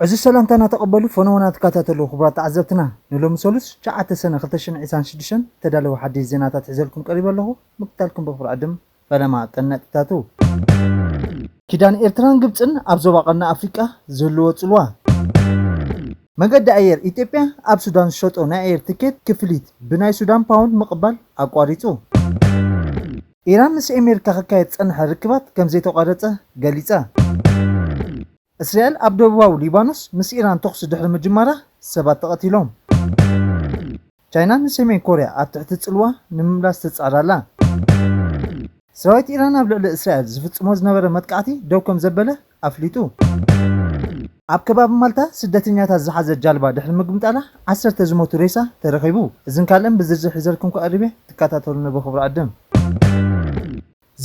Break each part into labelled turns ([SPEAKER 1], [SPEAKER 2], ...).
[SPEAKER 1] ዕዙዝ ሰላምታ እናተቐበሉ ፈነወ እናተከታተሉ ክቡራት ተዓዘብትና ንሎሚ ሰሉስ ትሽዓተ ሰነ ክልተ ሽሕን ዒስራን ሽዱሽተን ዝተዳለወ ሓዲሽ ዜናታት ሒዘልኩም ቀሪበ ኣለኹ ምክትታልኩም በኽብሪ ዕድም ፈለማ ቀን ነጥብታቱ። ኪዳን ኤርትራን ግብጽን ኣብ ዞባ ቀርኒ ኣፍሪቃ ዝህልዎ ጽልዋ። መገዲ ኣየር ኢትዮጵያ ኣብ ሱዳን ዝሸጦ ናይ ኣየር ትኬት ክፍሊት ብናይ ሱዳን ፓውንድ ምቕባል ኣቋሪጹ። ኢራን ምስ ኤሜሪካ ክካየድ ዝጸንሐ ርክባት ከምዘይተቋረጸ ገሊጻ። እስራኤል ኣብ ደቡባዊ ሊባኖስ ምስ ኢራን ተኹሲ ድሕሪ ምጅማራ ሰባት ተቐቲሎም። ቻይና ንሰሜን ኮርያ ኣብ ትሕቲ ጽልዋ ንምምላስ ትጽዕር ኣላ። ሰራዊት ኢራን ኣብ ልዕሊ እስራኤል ዝፍጽሞ ዝነበረ መጥቃዕቲ ደው ከምዘበለ ኣፍሊጡ። ኣብ ከባቢ ማልታ ስደተኛታት ዝሓዘት ጃልባ ድሕሪ ምግምጣላ ዓሰርተ ዝሞቱ ሬሳ ተረኺቡ። እዝን ካልእን ብዝርዝር ሒዘልኩም ክቐርብ'የ ትከታተሉኒ ብኽብሪ ዕድም።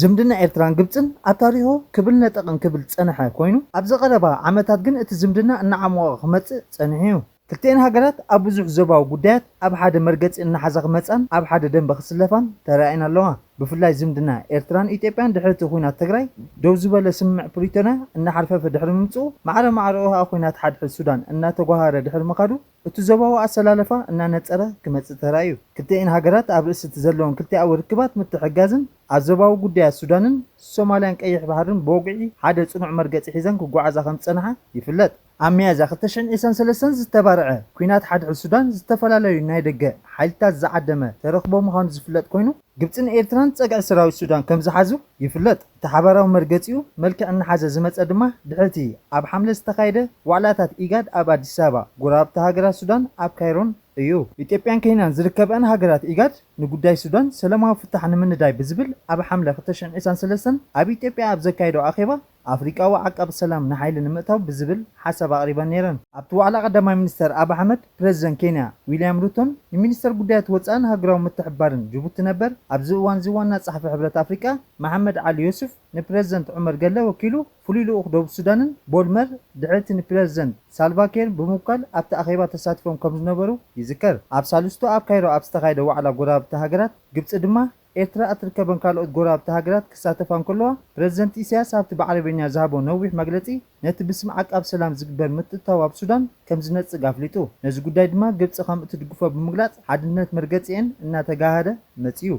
[SPEAKER 1] ዝምድና ኤርትራን ግብጽን ኣብ ታሪኹ ክብል ነጠቕ እንክብል ዝጸንሐ ኮይኑ፣ ኣብዚ ቀረባ ዓመታት ግን እቲ ዝምድና እናዓሞቐ ክመጽእ ጸኒሑ'ዩ። ክልቲኤን ሃገራት ኣብ ብዙሕ ዞባዊ ጉዳያት ኣብ ሓደ መርገጺ እናሓዛ ክመጻን ኣብ ሓደ ደምበ ክስለፋን ተራእየን ኣለዋ። ብፍላይ ዝምድና ኤርትራን ኢትዮጵያን ድሕሪ እቲ ኵናት ትግራይ ደው ዝበለ ስምምዕ ፕሪቶርያ እናሓርፈፈ ድሕሪ ምምጽኡ፣ ማዕረ ማዕረኡ ከኣ ኵናት ሓድሕድ ሱዳን እናተጓሃሃረ ድሕሪ ምኻዱ፣ እቲ ዞባዊ ኣሰላልፋ እናነጸረ ክመጽእ ተራእዩ። ክልቲኤን ሃገራት ኣብ ርእሲ እቲ ዘለወን ክልቲኣዊ ርክባት ምትሕግጋዝን ኣብ ዞባዊ ጉዳያት ሱዳንን ሶማልያን ቀይሕ ባሕርን ብወግዒ ሓደ ጽኑዕ መርገጺ ሒዘን ክጓዓዛ ከም ዝጸንሓ ይፍለጥ። ኣብ ሚያዝያ ክልተ ሽሕን ዒስራን ሰለስተን ዝተባርዐ ኲናት ሓድሕድ ሱዳን ዝተፈላለዩ ናይ ደገ ሓይልታት ዝዓደመ ተረኽቦ ምዃኑ ዝፍለጥ ኮይኑ፣ ግብጽን ኤርትራን ጸግዒ ሰራዊት ሱዳን ከም ዝሓዙ ይፍለጥ። እቲ ሓባራዊ መርገጺኡ መልክዕ እናሓዘ ዝመጸ ድማ ድሕሪ'ቲ ኣብ ሓምለ ዝተኻየደ ዋዕላታት ኢጋድ ኣብ ኣዲስ ኣበባ፣ ጎረባብቲ ሃገራት ሱዳን ኣብ ካይሮን እዩ። ኢትዮጵያን ኬንያን ዝርከበኣን ሃገራት ኢጋድ፣ ንጉዳይ ሱዳን ሰለማዊ ፍታሕ ንምንዳይ ብዝብል ኣብ ሓምለ ክልተ ሽሕን ዒስራን ሰለስተን ኣብ ኢትዮጵያ ኣብ ዘካየደኦ ኣኼባ፣ ኣፍሪቃዊ ዓቃቢ ሰላም ንሓይሊ ንምእታው ብዝብል ሓሳብ ኣቕሪበን ነይረን። ኣብቲ ዋዕላ ቀዳማይ ሚኒስተር ኣቢ ኣሕመድ፣ ፕረዚደንት ኬንያ ዊልያም ሩቶን ንሚኒስተር ጉዳያት ወጻእን ሃገራዊ ምትሕብባርን ጅቡቲ ነበር ኣብዚ እዋንዚ ዋና ጸሓፊ ሕብረት ኣፍሪቃ መሓመድ ዓሊ ዮሱፍ ንፕረዚደንት ዑመር ገለ ወኪሉ ፍሉይ ልኡኽ ደቡብ ሱዳንን ቦልመር ድሕሪ'ቲ ንፕረዚደንት ሳልቫ ኬር ብምውካል ኣብቲ ኣኼባ ተሳቲፎም ከምዝነበሩ ይዝከር። ኣብ ሳልስቱ ኣብ ካይሮ ኣብ ዝተኻየደ ዋዕላ ጎረባብቲ ሃገራት ግብጺ ድማ ኤርትራ እትርከበን ካልኦት ጎረባብቲ ሃገራት ክሳተፋ እንከለዋ፣ ፕረዚደንት ኢሳያስ ኣብቲ ብዓረብኛ ዝሃቦ ነዊሕ መግለጺ፣ ነቲ ብስም ዓቃብ ሰላም ዝግበር ምትእትታው ኣብ ሱዳን ከምዝነጽግ ኣፍሊጡ። ነዚ ጉዳይ ድማ ግብጺ ከምእትድግፎ ብምግላጽ ሓድነት መርገጺኤን እናተጋህደ መጺኡ።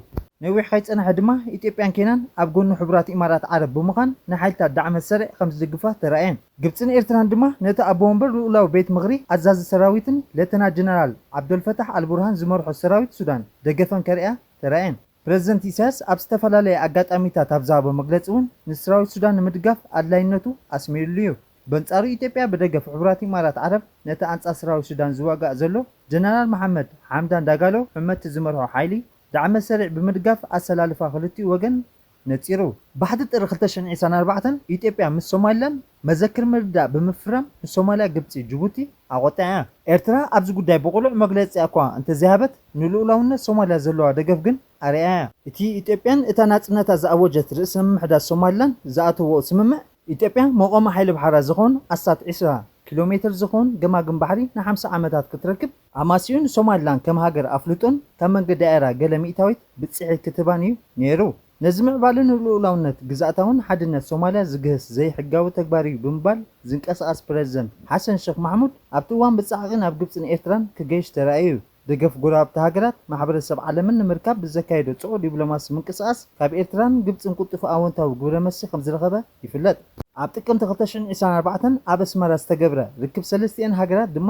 [SPEAKER 1] ነዊሕ ከይጸንሐ ድማ ኢትዮጵያን ኬንያን ኣብ ጎኒ ሕቡራት ኢማራት ዓረብ ብምዃን ንሓይልታት ዳዕመ ሰሪዕ ከምዝድግፋ ተራእየን። ግብጽን ኤርትራን ድማ ነቲ ኣቦ ወንበር ልኡላዊ ቤት ምኽሪ ኣዛዚ ሰራዊትን ሌተና ጀነራል ዓብደልፈታሕ ኣልቡርሃን ዝመርሖ ሰራዊት ሱዳን ደገፈን ከርእያ ተራእየ። ፕረዚደንት ኢሳያስ ኣብ ዝተፈላለየ ኣጋጣሚታት ኣብ ዝሃቦ መግለጺ'ውን ንስራዊት ሱዳን ንምድጋፍ ኣድላይነቱ ኣስሚርሉ'ዩ። በንጻሩ ኢትዮጵያ ብደገፍ ሕቡራት ኢማራት ዓረብ ነቲ ኣንጻር ስራዊት ሱዳን ዝዋጋእ ዘሎ ጀነራል መሓመድ ሓምዳን ዳጋሎ ሕመቲ ዝመርሖ ሓይሊ ዳዕመ-ሰሪዕ ብምድጋፍ ኣሰላልፋ ክልቲኡ ወገን ነጺሩ። ባሕቲ ጥሪ ክልተ ሽሕን ዒስራን ኣርባዕተን ኢትዮጵያ ምስ ሶማሊላንድ መዘክር ምርድዳእ ብምፍራም ንሶማሊያ፣ ግብጺ፣ ጅቡቲ ኣቖጢዓ እያ። ኤርትራ ኣብዚ ጉዳይ ብቕሉዕ መግለጺኣ'ኳ እንተዘይሃበት ንልኡላውነት ሶማሊያ ዘለዋ ደገፍ ግን ኣርእያ እያ። እቲ ኢትዮጵያን እታ ናጽነታ ዝኣወጀት ርእሰ ምምሕዳር ሶማሊላንድ ዝኣተውኦ ስምምዕ፣ ኢትዮጵያ መቖሚ ሓይሊ ባሕራ ዝኸውን ኣስታት ዒስራ ኪሎ ሜተር ዝኸውን ገማግም ባሕሪ ንሓምሳ ዓመታት ክትረክብ፣ ኣማሲኡን ሶማሊላንድ ከም ሃገር ኣፍልጡን ካብ መንገዲ ኣየራ ገለ ሚእታዊት ብጺሒት ክትህባን እዩ ነይሩ። ነዚ ምዕባለ ንልኡላውነት ግዝኣታውን ሓድነት ሶማሊያ ዝግህስ ዘይሕጋዊ ተግባር እዩ ብምባል ዝንቀሳቐስ ፕረዚደንት ሓሰን ሸኽ ማሕሙድ ኣብቲ እዋን ብጻዕቒ ናብ ግብጽን ኤርትራን ክገይሽ ተራእዩ። ደገፍ ጎረባብቲ ሃገራት ማሕበረሰብ ዓለምን ንምርካብ ብዘካየዶ ጽዑቕ ዲብሎማሲ ምንቅስቓስ ካብ ኤርትራን ግብጽን ቁልጡፍ ኣወንታዊ ግብረመልሲ ከምዝረኸበ ይፍለጥ። ኣብ ጥቅምቲ ክልተ ሽሕን ዒስራን ኣርባዕተን ኣብ ኣስመራ ዝተገብረ ርክብ ሰለስቲኤን ሃገራት ድማ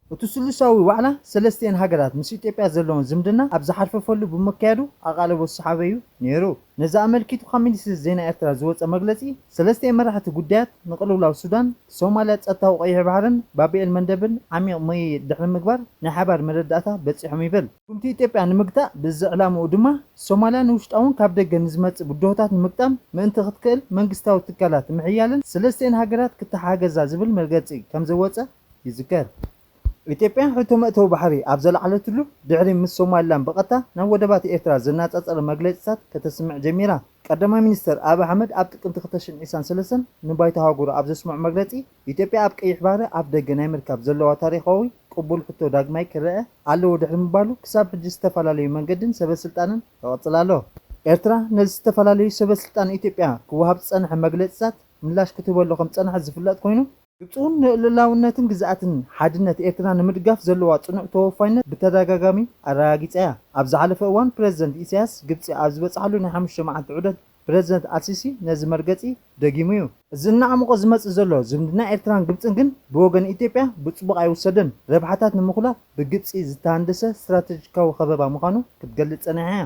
[SPEAKER 1] እቲ ስሉሳዊ ዋዕላ ሰለስቲኤን ሃገራት ምስ ኢትዮጵያ ዘለወን ዝምድና ኣብ ዝሓርፈፈሉ ብምክያዱ ኣቓልቦ ዝሰሓበ'ዩ ነይሩ። ነዚ ኣመልኪቱ ካብ ሚኒስትሪ ዜና ኤርትራ ዝወጸ መግለጺ፣ ሰለስቲኤን መራሕቲ ጉዳያት ንቕልውላው ሱዳን፣ ሶማልያ፣ ጸጥታዊ ቀይሕ ባሕርን ባብኤል መንደብን ዓሚቕ ምይይጥ ድሕሪ ምግባር ናይ ሓባር መረዳእታ በጺሖም ይብል። ስጉምቲ ኢትዮጵያ ንምግታእ ብዝሕ ዕላምኡ ድማ፣ ሶማልያ ንውሽጣውን ካብ ደገን ንዝመጽእ ብድሆታት ንምግጣም ምእንቲ ክትክእል መንግስታዊ ትካላት ምሕያልን ሰለስቲኤን ሃገራት ክተሓጋገዛ ዝብል መርገጺ ከምዘወጸ፣ ይዝከር። ኢትዮጵያ ሕቶ መእተዊ ባሕሪ ኣብ ዘልዓለትሉ ድሕሪ ምስ ሶማሊላንድ ብቐጥታ ናብ ወደባት ኤርትራ ዘናጻጸረ መግለጺታት ከተስምዕ ጀሚራ። ቀዳማይ ሚኒስተር ኣብይ ኣሕመድ ኣብ ጥቅምቲ ክልተ ሽሕን ዒስራን ሰለስተን ንባይቶ ኣህጉሩ ኣብ ዘስምዖ መግለጺ፣ ኢትዮጵያ ኣብ ቀይሕ ባሕሪ ኣፍደገ ናይ ምርካብ ዘለዋ ታሪኻዊ ቅቡል ሕቶ ዳግማይ ክረኣ ኣለዎ ድሕሪ ምባሉ ክሳብ ሕጂ ዝተፈላለዩ መንገድን ሰበስልጣንን ይቕጽል ኣሎ። ኤርትራ ነዚ ዝተፈላለዩ ሰበስልጣን ኢትዮጵያ ክወሃብ ዝጸንሐ መግለጺታት ምላሽ ክትህበሉ ከምዝጸንሐት ዝፍለጥ ኮይኑ፣ ግብፂ'ውን ንልእላውነትን ግዝኣትን ሓድነት ኤርትራ ንምድጋፍ ዘለዋ ፅኑዕ ተወፋይነት ብተደጋጋሚ ኣረጋጊፃ እያ። ኣብ ዝሓለፈ እዋን ፕረዚደንት ኢሳያስ ግብፂ ኣብ ዝበፅሓሉ ናይ ሓሙሽተ መዓልቲ ዑደት ፕረዚደንት ኣልሲሲ ነዚ መርገፂ ደጊሙ እዩ። እዚ እናዓሞቐ ዝመፅእ ዘሎ ዝምድና ኤርትራን ግብፅን ግን ብወገን ኢትዮጵያ ብፅቡቕ ኣይውሰድን። ረብሓታት ንምኹላፍ ብግብፂ ዝተሃንደሰ ስትራተጂካዊ ከበባ ምዃኑ ክትገልፅ ፀኒሓ እያ።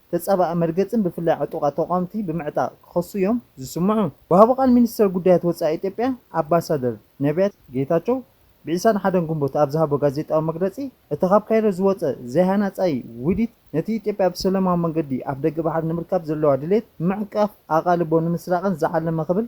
[SPEAKER 1] ተጻባኢ መርገጽን ብፍላይ ዕጡቓት ተቋምቲ ብምዕጣቕ ክኸሱ እዮም ዝስምዑ። ወሃቢ ቃል ሚኒስተር ጉዳያት ወጻኢ ኢትዮጵያ ኣምባሳደር ነብያት ጌታቸው ብዒስራን ሓደን ግንቦት ኣብ ዝሃቦ ጋዜጣዊ መግለጺ እቲ ካብ ካይሮ ዝወጸ ዘይሃናጻይ ውዲት ነቲ ኢትዮጵያ ብሰለማዊ መንገዲ ኣፍደገ ባሕሪ ንምርካብ ዘለዋ ድሌት ንምዕንቃፍ ኣቓልቦ ንምስራቕን ዝዓለመ ክብል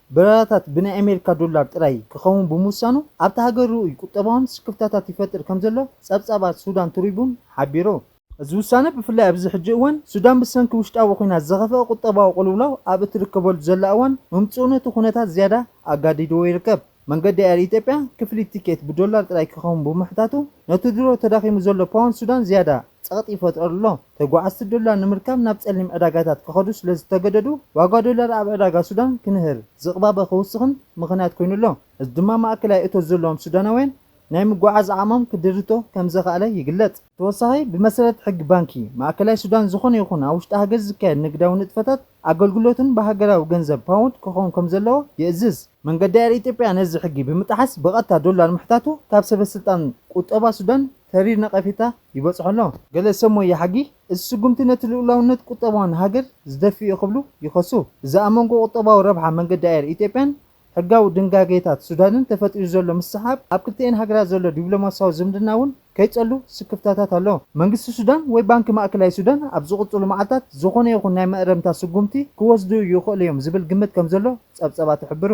[SPEAKER 1] በረራታት ብናይ ኣሜሪካ ዶላር ጥራይ ክኸውን ብምውሳኑ ኣብታ ሃገር ርኡይ ቁጠባውን ስክፍታታት ይፈጥር ከምዘሎ ጸብጻባት ሱዳን ትሪቡን ሓቢሩ። እዚ ውሳነ ብፍላይ ኣብዚ ሕጂ እዋን ሱዳን ብሰንኪ ውሽጣዊ ኲናት ዘኸፍኣ ቁጠባዊ ቅልውላው ኣብ እትርከበሉ ዘላ እዋን ምምጽኡ ነቲ ኩነታት ዝያዳ ኣጋዲድዎ ይርከብ። መንገዲ ኣየር ኢትዮጵያ ክፍሊት ቲኬት ብዶላር ጥራይ ክኸውን ብምሕታቱ ነቲ ድሮ ተዳኺሙ ዘሎ ፓውንድ ሱዳን ዝያዳ ጸቕጢ ይፈጥረሉ ኣሎ። ተጓዓዝቲ ዶላር ንምርካብ ናብ ጸሊም ዕዳጋታት ክኸዱ ስለ ዝተገደዱ፣ ዋጋ ዶላር ኣብ ዕዳጋ ሱዳን ክንህር፣ ዝቕባበ ክውስኽን ምኽንያት ኮይኑ ኣሎ። እዚ ድማ ማእከላይ እቶት ዘለዎም ሱዳናውያን ናይ ምጉዕዓዝ ዓቕሞም ክድርቶ ከም ዘኽኣለ ይግለጽ። ብተወሳኺ፣ ብመሰረት ሕጊ ባንኪ ማእከላይ ሱዳን ዝኾነ ይኹን ኣብ ውሽጢ ሃገር ዝካየድ ንግዳዊ ንጥፈታት፣ ኣገልግሎትን ብሃገራዊ ገንዘብ ፓውንድ ክኸውን ከም ዘለዎ ይእዝዝ። መንገዲ ኣየር ኢትዮጵያ ነዚ ሕጊ ብምጥሓስ ብቐጥታ ዶላር ምሕታቱ ካብ ሰበስልጣን ቁጠባ ሱዳን ተሪር ነቐፌታ ይበጽሖ ኣሎ። ገለ ሰብ ሞያ ሕጊ፣ እዚ ስጉምቲ ነቲ ልኡላውነት ቁጠባን ሃገር ዝደፍእ'ዩ ክብሉ ይኸሱ። እዚ ኣብ መንጎ ቁጠባዊ ረብሓ መንገዲ ኣየር ኢትዮጵያን ሕጋዊ ድንጋጌታት ሱዳንን ተፈጢሩ ዘሎ ምስሕሓብ፣ ኣብ ክልቲኤን ሃገራት ዘሎ ዲፕሎማስያዊ ዝምድና እውን ከይጸሉ ስክፍታታት ኣሎ። መንግስቲ ሱዳን ወይ ባንኪ ማእከላይ ሱዳን ኣብ ዝቕጽሉ መዓልታት ዝኾነ ይኹን ናይ መእረምታ ስጉምቲ ክወስዱ ይኽእሉ'ዮም ዝብል ግምት ከምዘሎ ጸብጸባት ይሕብሩ።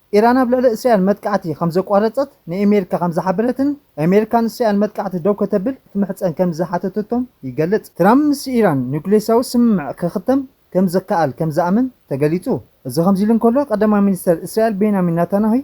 [SPEAKER 1] ኢራን ኣብ ልዕሊ እስራኤል መጥቃዕቲ ከም ዘቋረጸት ንኤሜሪካ ከም ዝሓበረትን ኤሜሪካ ንእስራኤል መጥቃዕቲ ደው ከተብል ክትምሕጸን ከም ዝሓተተቶም ይገልጽ። ትራምፕ ምስ ኢራን ኑክሌሳዊ ስምምዕ ክኽተም ከም ዝከኣል ከም ዝኣምን ተገሊጹ። እዚ ከምዚሉ እንከሎ ቀዳማይ ሚኒስተር እስራኤል ቤንያሚን ናታንያሁይ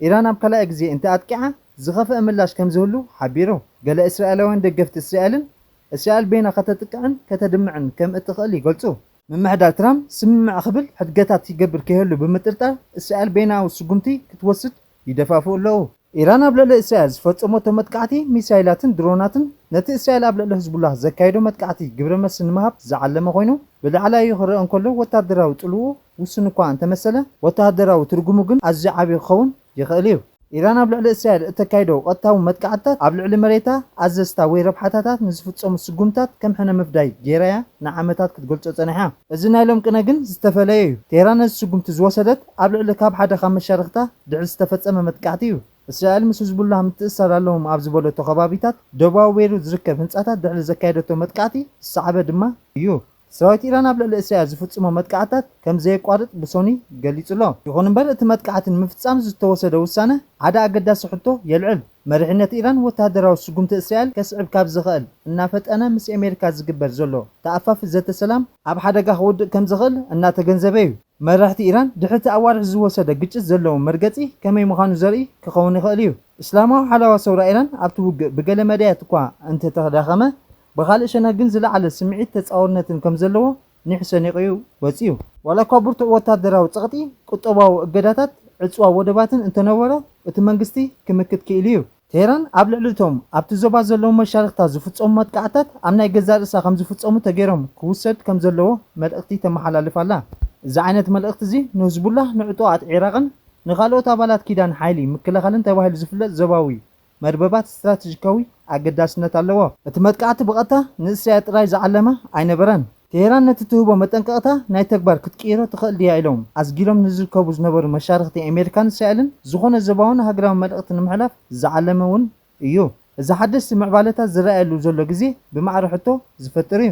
[SPEAKER 1] ኢራን ኣብ ካልኣይ ግዜ እንተ ኣጥቂዓ ዝኸፍኣ ምላሽ ከም ዝህሉ ሓቢሩ። ገለ እስራኤላውያን ደገፍቲ እስራኤልን እስራኤል ቤና ከተጥቅዕን ከተድምዕን ከም እትኽእል ይገልጹ። ምምሕዳር ትራምፕ ስምምዕ ክብል ሕድገታት ይገብር ከይህሉ ብምጥርጣር እስራኤል በይናዊ ስጉምቲ ክትወስድ ይደፋፍኡ ኣለዉ። ኢራን ኣብ ልዕሊ እስራኤል ዝፈጸመቶ መጥቃዕቲ ሚሳይላትን ድሮናትን ነቲ እስራኤል ኣብ ልዕሊ ህዝቡላህ ዘካይዶ መጥቃዕቲ ግብረ መልሲ ንምሃብ ዝዓለመ ኮይኑ ብላዕላዩ ክረኣ እንከሎ ወተሃደራዊ ጽልውኡ ውሱን እኳ እንተመሰለ ወተሃደራዊ ትርጉሙ ግን ኣዝዩ ዓቢ ክኸውን ይኽእል እዩ። ኢራን ኣብ ልዕሊ እስራኤል እተካይዶ ቐጥታዊ መጥቃዕትታት፣ ኣብ ልዕሊ መሬታ፣ ኣዘዝታ ወይ ረብሓታታ ንዝፍጸሙ ስጉምትታት ከም ሕነ ምፍዳይ ገይራ እያ ንዓመታት ክትገልጾ ጸኒሓ። እዚ ናይ ሎም ቅነ ግን ዝተፈለየ እዩ። ቴህራን ነዚ ስጉምቲ ዝወሰደት ኣብ ልዕሊ ካብ ሓደ ካብ መሻርኽታ ድሕሪ ዝተፈጸመ መጥቃዕቲ እዩ። እስራኤል ምስ ህዝቡላህ ምትእስሳር ኣለዎም ኣብ ዝበለቶ ከባቢታት ደቡባዊ ቤይሩት ዝርከብ ህንጻታት ድሕሪ ዘካየደቶ መጥቃዕቲ ዝሰዓበ ድማ እዩ። ሰራዊት ኢራን ኣብ ልዕሊ እስራኤል ዝፍጽሞ መጥቃዕትታት ከም ዘየቋርጽ ብሶኑይ ገሊጹ'ሎ። ይኹን'ምበር እቲ መጥቃዕቲ ንምፍጻም ዝተወሰደ ውሳነ ሓደ ኣገዳሲ ሕቶ የልዕል። መሪሕነት ኢራን ወተሃደራዊ ስጉምቲ እስራኤል ከስዕብ ካብ ዝኸእል እናፈጠነ ምስ ኤሜሪካ ዝግበር ዘሎ ተኣፋፊ ዘተ ሰላም፣ ኣብ ሓደጋ ክውድቅ ከም ዝኸእል እናተገንዘበ'ዩ። መራሕቲ ኢራን ድሕሪ እቲ ኣዋርሕ ዝወሰደ ግጭት ዘለዎም መርገጺ ከመይ ምዃኑ ዘርኢ ክኸውን ይኸእል'ዩ። እስላማዊ ሓለዋ ሰውራ ኢራን ኣብቲ ውግእ ብገለ መዳያት'ኳ እንተተዳኸመ ብኻልእ ሸነኽ ግን ዝለዓለ ስምዒት ተጻዋርነትን ከም ዘለዎ ኒሕ ሰኒቑ'ዩ ወጺኡ። ዋላ'ኳ ብርቱዕ ወታደራዊ ጸቕጢ፣ ቁጠባዊ እገዳታት፣ ዕጽዋ ወደባትን እንተነበሮ፣ እቲ መንግስቲ ክምክት ክኢሉ'ዩ። ቴህራን ኣብ ልዕሊ'ቶም ኣብቲ ዞባ ዘለዉ መሻርኽታ ዝፍጸሙ መጥቃዕትታት ኣብ ናይ ገዛእ ርእሳ ከም ዝፍጸሙ ተገይሮም ክውሰድ ከም ዘለዎ መልእኽቲ ተመሓላልፍ ኣላ። እዚ ዓይነት መልእኽቲ'ዚ ንህዝቡላህ፣ ንዕጡቓት ዒራቕን ንኻልኦት ኣባላት ኪዳን ሓይሊ ምክልኻልን ተባሂሉ ዝፍለጥ ዞባዊ መርበባት ስትራተጂካዊ ኣገዳስነት ኣለዎ። እቲ መጥቃዕቲ ብቐጥታ ንእስራኤል ጥራይ ዝዓለመ ኣይነበረን። ቴህራን ነቲ ትህቦ መጠንቀቕታ ናይ ተግባር ክትቅይሮ ትኽእል ድያ ኢሎም ኣስጊሮም ንዝርከቡ ዝነበሩ መሻርኽቲ ኣሜሪካን እስራኤልን ዝኾነ ዞባውን ሃገራውን መልእኽቲ ንምሕላፍ ዝዓለመ እውን እዩ። እዚ ሓደስቲ ምዕባለታት ዝረኣየሉ ዘሎ ግዜ ብማዕረ ሕቶ ዝፈጥር እዩ።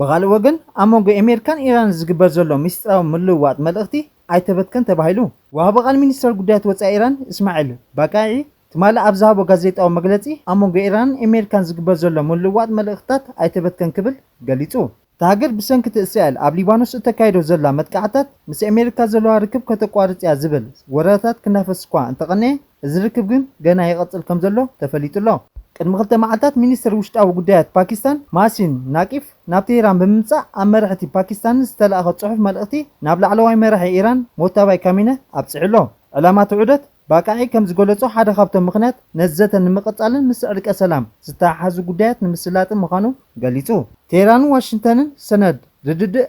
[SPEAKER 1] ብኻልእ ወገን ኣብ መንጎ ኤሜርካን ኢራንን ዝግበር ዘሎ ሚስጢራዊ ምልውዋጥ መልእኽቲ ኣይተበትከን ተባሂሉ። ወሃቢ ቃል ሚኒስተር ጉዳያት ወጻኢ ኢራን እስማዒል ባቃዒ ትማሊ ኣብ ዝሃቦ ጋዜጣዊ መግለጺ ኣብ መንጎ ኢራንን ኤሜርካን ዝግበር ዘሎ ምልውዋጥ መልእኽትታት ኣይተበትከን ክብል ገሊጹ። እታ ሃገር ብሰንኪ'ቲ እስራኤል ኣብ ሊባኖስ እተካይዶ ዘላ መጥቃዕትታት ምስ ኤሜርካ ዘለዋ ርክብ ከተቋርጽ'ያ ዝብል ወረታት ክናፈስ'ኳ እንተቐነየ፣ እዚ ርክብ ግን ገና ይቕጽል ከም ዘሎ ተፈሊጡ ኣሎ። ቅድሚ ክልተ መዓልታት ሚኒስተር ውሽጣዊ ጉዳያት ፓኪስታን ማሲን ናቂፍ ናብ ቴህራን ብምምጻእ ኣብ መራሕቲ ፓኪስታንን ዝተላእኸ ጽሑፍ መልእኽቲ ናብ ላዕለዋይ መራሒ ኢራን ሞታባይ ካሚነ ኣብጺሑ ኣሎ። ዕላማ እቲ ዑደት፣ ባቃዒ ከም ዝገለጾ ሓደ ካብቶም ምኽንያት ነዚ ዘተ ንምቕጻልን ምስ ዕርቀ ሰላም ዝተሓሓዙ ጉዳያት ንምስላጥን ምዃኑ ገሊጹ። ቴህራንን ዋሽንግተንን ሰነድ ርድድእ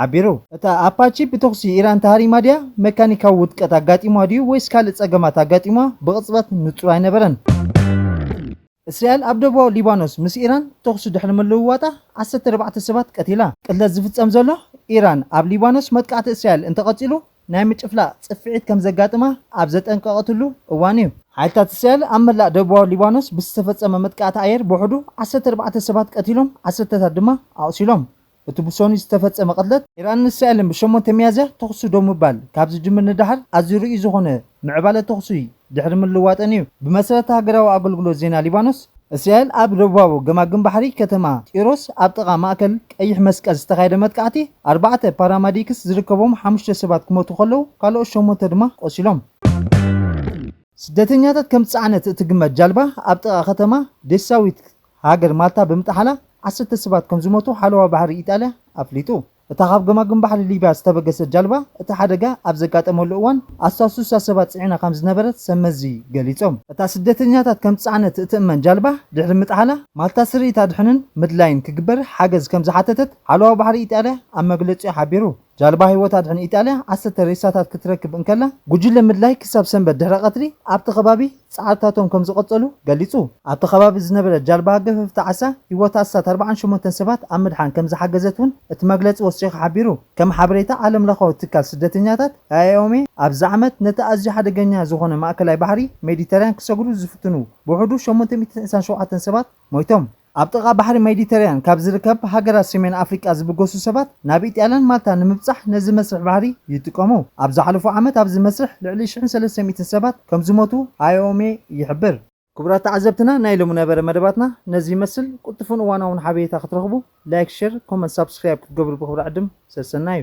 [SPEAKER 1] ሓቢሩ። እታ ኣፓቺ ብተኹሲ ኢራን ተሃሪማ ድያ፣ መካኒካዊ ውድቀት ኣጋጢሙዋ ድዩ ወይስ ካልእ ጸገማት ኣጋጢሙዋ ብቕጽበት ንጹር ኣይነበረን። እስራኤል ኣብ ደቡባዊ ሊባኖስ ምስ ኢራን ተኹሲ ድሕሪ ምልውዋጣ ዓሰርተ ኣርባዕተ ሰባት ቀቲላ። ቅትለት ዝፍጸም ዘሎ፣ ኢራን ኣብ ሊባኖስ መጥቃዕቲ እስራኤል እንተቐጺሉ ናይ ምጭፍላቕ ጽፍዒት ከም ዘጋጥማ ኣብ ዘጠንቀቐትሉ እዋን'ዩ። ሓይልታት እስራኤል ኣብ መላእ ደቡባዊ ሊባኖስ ብዝተፈጸመ መጥቃዕቲ ኣየር ብውሕዱ ዓሰርተ ኣርባዕተ ሰባት ቀቲሎም ዓሰርተታት ድማ ኣቑሲሎም። እቲ ብሶኑይ ዝተፈጸመ ቅትለት፣ ኢራንን እስራኤልን ብ ሸሞንተ ሚያዝያ ተኹሲ ደው ምባል ካብ ዝጅምር ንደሓር ኣዝዩ ርኡይ ዝኾነ ምዕባለ ተኹሲ ድሕሪ ምልዋጠን እዩ። ብመሰረት ሃገራዊ ኣገልግሎት ዜና ሊባኖስ፣ እስራኤል ኣብ ደቡባዊ ገማግም ባሕሪ ከተማ ጢሮስ ኣብ ጥቓ ማእከል ቀይሕ መስቀል ዝተኻየደ መጥቃዕቲ ኣርባዕተ ፓራማዲክስ ዝርከቦም ሓሙሽተ ሰባት ክሞቱ ከለዉ ካልኦት ሸሞንተ ድማ ቆሲሎም። ስደተኛታት ከም ዝጸዓነት እትግመት ጃልባ ኣብ ጥቓ ከተማ ዴሳዊት ሃገር ማልታ ብምጥሓላ ዓሰርተ ሰባት ከምዝሞቱ ሓለዋ ባሕሪ ኢጣልያ ኣፍሊጡ። እታ ካብ ገማግም ባሕሪ ሊብያ ዝተበገሰት ጃልባ እቲ ሓደጋ ኣብ ዘጋጠመሉ እዋን ኣስታት ስሳ ሰባት ጽዒና ከምዝነበረት ሰብ መዚ ገሊጾም። እታ ስደተኛታት ከምዝጸዓነት እትእመን ጃልባ ድሕሪ ምጥሓላ ማልታ ስርኢት ኣድሕንን ምድላይን ክግበር ሓገዝ ከምዝሓተተት ሓለዋ ባሕሪ ኢጣልያ ኣብ መግለጺኡ ሓቢሩ። ጃልባ ህይወት ኣድሕን ኢጣልያ ዓሰርተ ሬሳታት ክትረክብ እንከላ፣ ጉጅለ ምድላይ ክሳብ ሰንበት ድሕረ ቀትሪ ኣብቲ ከባቢ ጻዕርታቶም ከምዝቐጸሉ ገሊጹ። ኣብቲ ከባቢ ዝነበረት ጃልባ ገፈፍቲ ዓሳ ህይወት ኣስታት ኣርብዓን ሸሞንተን ሰባት ኣብ ምድሓን ከምዝሓገዘት እውን እቲ መግለጺ ወሲኹ ሓቢሩ። ከም ሓበሬታ ዓለምለኻዊ ትካል ስደተኛታት፣ IOM፣ ኣብዚ ዓመት ነቲ ኣዝዩ ሓደገኛ ዝኾነ ማእከላይ ባሕሪ ሜዲተርያን ክሰግሩ ዝፍትኑ ብውሕዱ ሸሞንተ ሚእትን ዕስራን ሸውዓተን ሰባት ሞይቶም። ኣብ ጥቓ ባሕሪ ሜዲተራያን ካብ ዝርከብ ሃገራት ሰሜን ኣፍሪቃ ዝብገሱ ሰባት ናብ ኢጣልያን ማልታን ንምብጻሕ ነዚ መስርሕ ባሕሪ ይጥቀሙ። ኣብ ዝሓለፉ ዓመት ኣብዚ መስርሕ ልዕሊ ሽሕን ሰለስተ ሚእትን ሰባት ከም ዝሞቱ IOM ይሕብር። ክቡራት ተዓዘብትና ናይ ሎሚ ነበረ መደባትና ነዚ ይመስል። ቁልጡፍን እዋናውን ሓቤሬታ ክትረኽቡ ላይክ ሸር ኮመንት ሳብስክራይብ ክትገብሩ ብኽብሪ ዕድም። ሰሰናዩ።